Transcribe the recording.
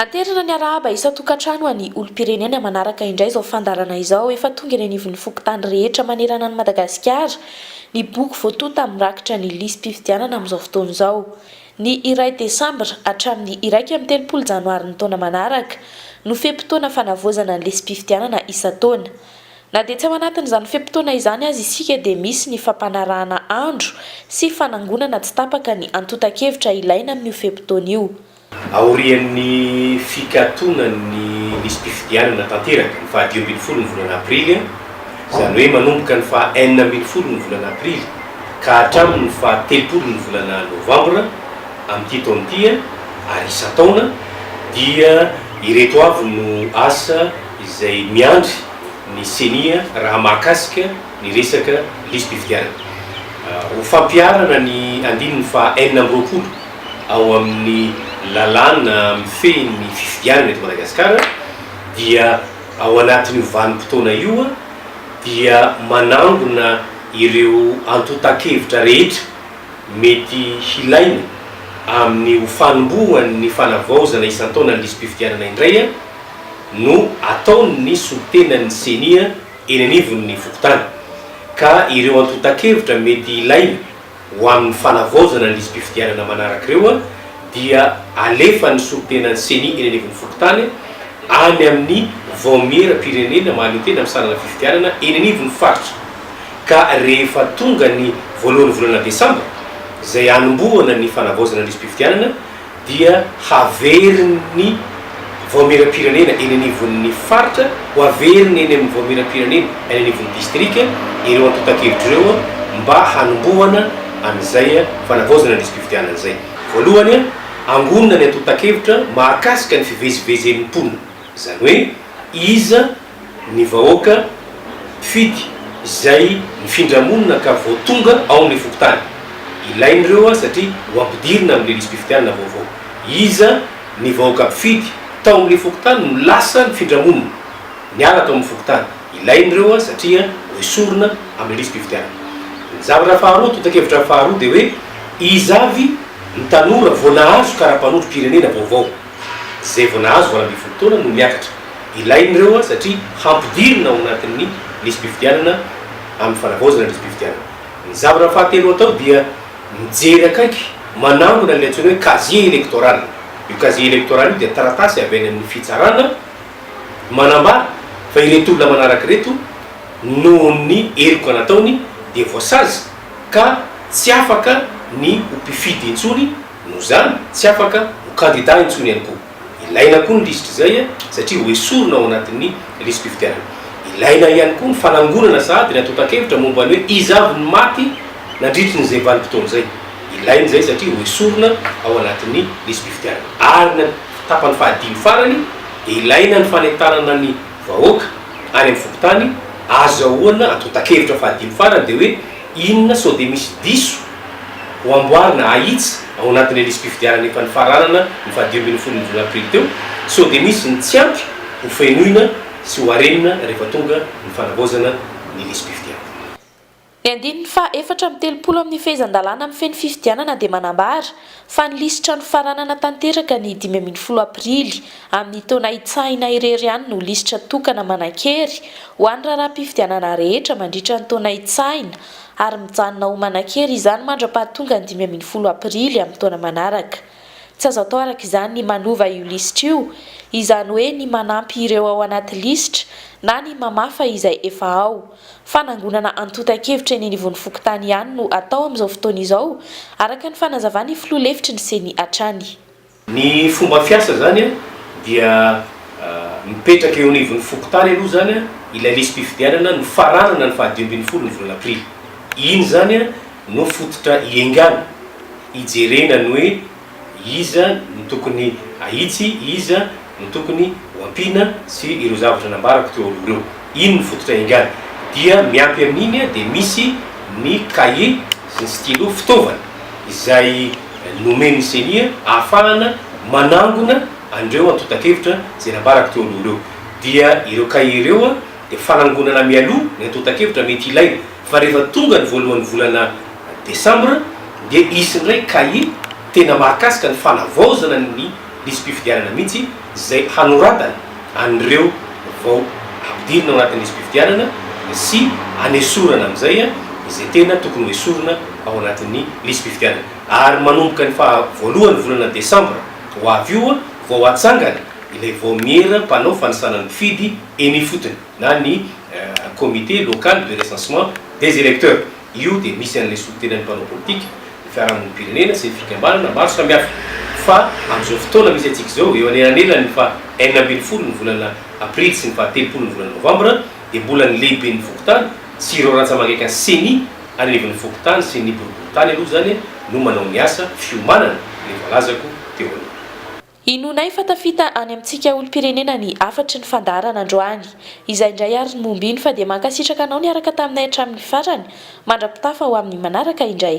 Anterina ny arahaba isan-tokantrano any olom-pirenena manaraka indray izao fandaharana izao efa tonga eny anivon'ny fokontany rehetra manerana an'i Madagasikara ny boky voatonta amin'ny rakitra ny lisi-pifidianana amin'izao fotoana izao. Ny iray desambra hatramin'ny iraika amby telopolo janoary ny taona manaraka no fe-potoana fanavaozana ny lisi-pifidianana isan-taona. Na dia tsy ao anatin'izany fe-potoana izany aza isika dia misy ny fampanarahana andro sy fanangonana tsy tapaka ny antontan-kevitra ilaina amin'io fe-potoana io. Aorian'ny fikatonan'ny lisi-pifidianana tanteraka ny faha dimy ambin'ny folo ny volana aprily, izany hoe manomboka ny faha enina ambin'ny folo ny volana aprily ka hatramin'ny faha telopolo ny volana novambra amin'ity taona ity ary isan-taona dia ireto avy no asa izay miandry ny ceni raha mahakasika ny resaka lisi-pifidianana. Ho fampiharana ny andininy faha enina amby roapolo. ao amin'ny lalàna mifehy ny fifidianana eto Madagasikara dia ao anatin'io vanim-potoana io dia manangona ireo antontan-kevitra rehetra mety hilaina amin'ny ho fanombohan'ny fanavaozana isan-taona ny lisi-pifidianana indray no ataon'ny solontenan'ny Ceni eny anivon'ny fokontany ka ireo antontan-kevitra mety hilaina ho amin'ny fanavaozana ny lisi-pifidianana manaraka ireo dia alefan'ny solontenan'ny Ceni eny anivon'ny fokontany any amin'ny vaomieram-pirenena mahaleo tena amin'ny sarana fifidianana eny anivon'ny faritra ka rehefa tonga ny voalohan'ny volana desambra izay hanombohana ny fanavaozana ny lisi-pifidianana dia haverin'ny Vaomieram-pirenena eny anivon'ny Faritra ho averiny eny amin'ny Vaomieram-pirenena any anivon'ny Distrika ireo antontan-kevitra ireo mba hanombohana an'izay fanavaozana ny lisi-pifidianana izay. Voalohany, angonina ny antontan-kevitra mahakasika ny fivezivezen'ny mponina, izany hoe iza, ny vahoaka mpifidy izay mifindra monina ka vao tonga ao amin'ny fokontany. Ilaina ireo satria ho ampidirina amin'ny lisi-pifidianana vaovao. Iza ny vahoaka mpifidy tao amin'ny fokontany no lasa nifindra monina, niala tao amin'ny fokontany? Ilaina ireo satria hoesorina amin'ny lisi-pifidianana. Ny zavatra faharoa, tontakevitra faharoa dia hoe iza avy ny tanora vao nahazo kara-panondrom-pirenena vaovao? izay vao nahazo valo ambin'ny folo taona no miakatra. Ilain'ireo satria hampidirina ao anatin'ny lisi-pifidianana amin'ny fanavaozana ny lisi-pifidianana. Ny zavatra fahatelo atao dia mijery akaiky manangona ilay antsoina hoe casier électoral. Io casier électoral io dia taratasy avy any amin'ny fitsarana manambara fa ireto olona manaraka ireto nohon'ny heloka nataony dia voasazy ka tsy afaka ny ho mpifidy intsony Noho izany, tsy afaka ho kandidà intsony ihany koa. Ilaina koa ny lisitra izay satria ho esorina ao anatin'ny lisi-pifidianana. Ilaina ihany koa ny fanangonana sahady ny antontan-kevitra momba ny hoe iza avy no maty nandritry ny izay vanim-potoana izay. Ilaina izay satria ho esorina ao anatin'ny lisi-pifidianana. Ary ny tapany fahadimy farany dia ilaina ny fanentanana ny vahoaka any amin'ny fokontany, azahoana antontan-kevitra fahadimy farany dia hoe Inona sao dia misy diso ho amboarina ahitsy ao anatin'ilay lisi-pifidianana efa nifaranana ny fahadimy ambin'ny folo ny volana aprily teo? Sao dia misy ny tsy ampy ho fenoina sy ho arenina rehefa tonga ny fanavaozana ny lisi-pifidianana? Ny andininy faha efatra amby telopolo amin'ny fehezan-dalàna mifehy ny fifidianana dia manambara fa ny lisitra nofaranana tanteraka ny dimy ambin'ny folo aprily amin'ny taona hitsahina irery ihany no lisitra tokana manan-kery ho an'ny raharaham-pifidianana rehetra mandritra ny taona hitsahina ary mijanona ho manan-kery izany mandra-pahatonga ny dimy ambin'ny folo aprily amin'ny taona manaraka. Tsy azo atao araka izany ny manova io lisitra io, izany hoe ny manampy ireo ao anaty lisitra na ny mamafa izay efa ao. Fanangonana antontan-kevitra eny anivon'ny fokontany ihany no atao amin'izao fotoana izao, araka ny fanazavan'ny filoha lefitry ny Ceni hatrany. Ny fomba fiasa izany dia mipetraka eo anivon'ny fokontany aloha izany ilay lisi-pifidianana nofaranana ny faha dimy ambin'ny folo ny volana aprily. Iny izany no fototra iengana, ijerena ny hoe. Iza no tokony hahitsy, iza no tokony ho ampiana sy ireo zavatra nambarako teo aloha ireo. Iny no fototra iangany. Dia miampy amin'iny dia misy ny kahie sy ny stylo, fitaovana izay nomen'ny ceni ahafahana manangona an'ireo antontan-kevitra izay nambarako teo aloha ireo. Dia ireo kahie ireo dia fanangonana mialoha ny antontan-kevitra mety ilaina. Fa rehefa tonga ny voalohan'ny volana desambra dia hisy indray cahier tena mahakasika ny fanavaozana ny lisi-pifidianana mihitsy izay hanoratana an'ireo vao ampidirina ao anatin'ny lisi-pifidianana sy hanesorana amin'izay izay tena tokony ho esorina ao anatin'ny lisi-pifidianana. Ary manomboka ny faha voalohan'ny volana desambra ho avy io vao hatsangana ilay vaomiera mpanao fanisana ny mpifidy eny ifotony. na ny comité local de recensement des electeurs. Io dia misy an'ilay solontenan'ny mpanao politika, ny fiarahamonim-pirenena sy ny fikambanana maro samihafa. Fa amin'izao fotoana misy antsika izao, eo anelanelan'ny faha enina ambin'ny folo ny volana aprily sy ny faha telopolo ny volana novambra, dia mbola ny lehiben'ny fokontany sy ireo rantsamangaikan'ny ceni anivon'ny fokontany sy ny boriborintany aloha izany no manao ny asa fiomanana ilay voalazako teo aloha. Inoanay fa tafita any amintsika olom-pirenena ny hafatry ny fandaharana androany. Izay indray ary no momba iny fa dia mankasitraka anao niaraka taminay hatramin'ny farany, mandra-pitafa ho amin'ny manaraka indray.